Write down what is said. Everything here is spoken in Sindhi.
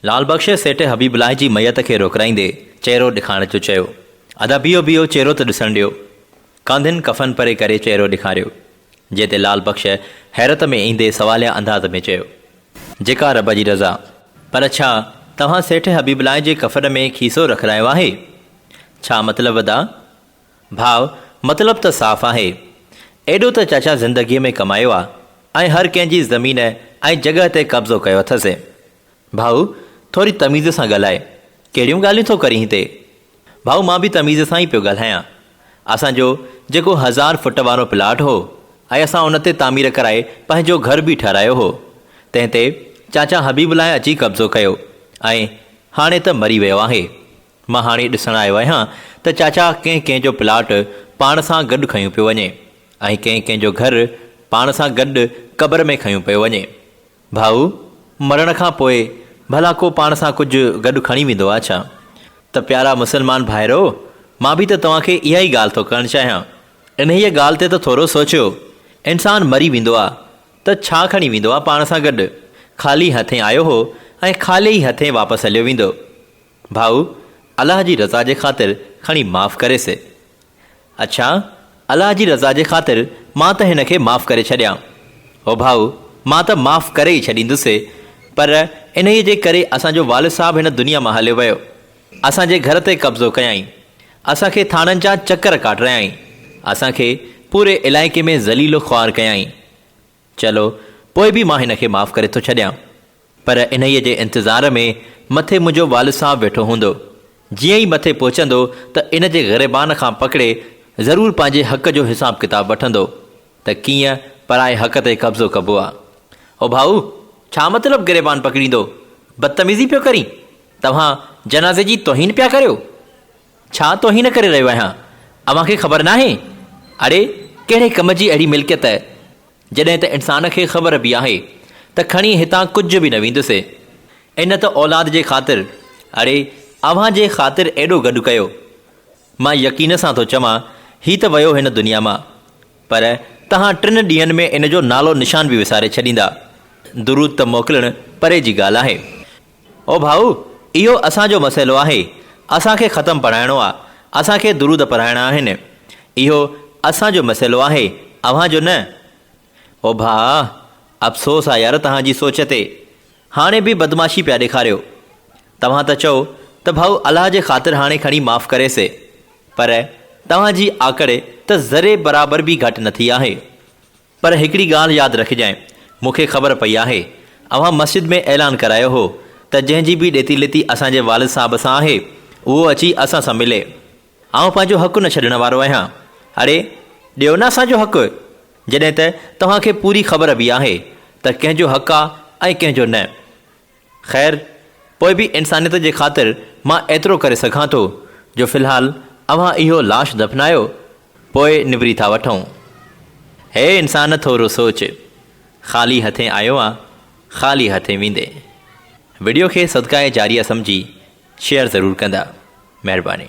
لعل بخش سيٺ حبيب الله جي ميت کي روڪرائيندي چهرو ڏيکارڻ جو چيو. ادا بيهو بيهو چهرو ته ڏسڻ ڏيو. ڪانڌين ڪفن پري ڪري چهرو ڏيکاريو. جنهن تي لعل بخش حيرت ۾ ايندي سواليه انداز ۾ چيو. جيڪا رب جي رضا. پر ڇا توهان سيٺ حبيب الله جي ڪفن ۾ کيسو رکرايو آهي؟ ڇا مطلب ادا؟ ڀاء مطلب ته صاف آهي. ايڏو ته چاچا زندگيء ۾ ڪمايو آ ۽ هر ڪنهن جي زمين ۽ جڳهه تي قبضو ڪيو اٿس. ڀاء ٿوري تميز سان ڳالهاء، ڪهڙيون ڳالهيون ٿو ڪرين هتي؟ ڀاء مان به تميز سان ئي پيو ڳالهايان. اسان جو جيڪو هزار فٽ وارو پلاٽ هو ۽ اسان ان تي تعمير ڪرائي پنهنجو گهر به ٺهرايو هو، تنهن تي چاچا حبيب الله اچي قبضو ڪيو ۽ هاڻي ته مري ويو آهي. مان هاڻي ڏسڻ آيو آهيان ته چاچا ڪنهن ڪنهن جو پلاٽ پاڻ سان گڏ کنيو پيو وڃي ۽ ڪنهن ڪنهن جو گهر پاڻ سان گڏ قبر ۾ کنيو پيو وڃي. ڀاء، مرڻ کان پوء ڀلا ڪو پاڻ سان ڪجهه گڏ کڻي ويندو آ ڇا؟ ته پيارا مسلمان ڀائرؤ، مان به ته توهان کي اها ئي ڳالهه ٿو ڪرڻ چاهيان. انهيء ڳالهه تي ته ٿورو سوچيو. انسان مري ويندو آ، ته ڇا کڻي ويندو آ پاڻ سان گڏ؟ خالي هٿين آيو هو ۽ خالي ئي هٿين واپس هليو ويندو. ڀائو الله جي رضا جي خاطر کڻي معاف ڪري سي. اڇا الله جي رضا جي خاطر مان ته هن کي معاف ڪري ڇڏيان. او ڀائو مان ته معاف ڪري ئي ڇڏيندوسي پر انهيء جي ڪري اسان جو والد صاحب هن دنيا مان هليو ويو. اسان جي گهر تي قبضو ڪيائين. اسان کي ٿاڻن جا چڪر ڪاٽرايائين. اسان کي پوري علائقي ۾ ذليل و خوار ڪيائين. چلو پوء به مان هن کي معاف ڪري ٿو ڇڏيان. پر انهيء جي انتظار ۾ مٿي منهنجو والد صاحب ويٺو هوندو. جيئن ئي مٿي پهچندو ته ان جي غريبان کان پڪڙي ضرور پنهنجي حق جو حساب ڪتاب وٺندو ته ڪيئن پرائي حق تي قبضو ڪبو آ. او ڀائو! ڇا مطلب گريبان پڪڙيندو؟ بدتميزي پيو ڪرين؟ توهان جنازي جي توهين پيا ڪريو؟ ڇا توهين ڪري رهيو آهيان، اوهان کي خبر ناهي؟ اڙي ڪهڙي ڪم جي اهڙي ملڪيت، جڏهن ته انسان کي خبر به آهي ته کڻي هتان ڪجهه به نه ويندسي. ان ته اولاد جي خاطر، اڙي اوهان جي خاطر ايڏو گڏ ڪيو. مان يقين سان ٿو چوان هي ته ويو هن دنيا مان، پر توهان ٽن ڏينهن ۾ ان جو نالو نشان به وساري ڇڏيندا. درود ته موڪلڻ پري جي ڳالهه آهي. او ڀائو! اهو اسان جو مسئلو آهي، اسان کي ختم پڙهائڻو آ، اسان کي درود پڙهائڻا آهن. اهو اسان جو مسئلو آهي، اوهان جو نه. او ڀاء! افسوس آ يار توهان جي سوچ تي. هاڻي به بدمعاشي پيا ڏيکاريو. توهان ته چئو ته ڀاء الله جي خاطر هاڻي کڻي معاف ڪري سي. پر توهان جي آڪڙي ته ذري برابر به گهٽ نه ٿي آهي. پر هڪڙي ڳالهه ياد رکجانء، مون کي خبر پئي آهي، اوهان مسجد ۾ اعلان ڪرايو هو ته جنهن جي به ڏيتي ليتي اسان جي والد صاحب سان آهي، اهو اچي اسان سان ملي. آئون پنهنجو حق نه ڇڏڻ وارو آهيان. اڙي، ڏيو نه اسان جو حق! جڏهن ته توهان کي پوري خبر به آهي ته ڪنهن جو حق آ ۽ ڪنهن جو نه. خير، پوء به انسانيت جي خاطر مان ايترو ڪري سگهان ٿو جو في الحال اوهان اهو لاش دفنايو، پوء نبري ٿا وٺون. هي انسان ٿورو سوچ، خالي هٿين آيو آن، خالي هٿين ويندين. وڊيو کي صدقه جاريه سمجهي شيئر ضرور ڪندا. مهرباني.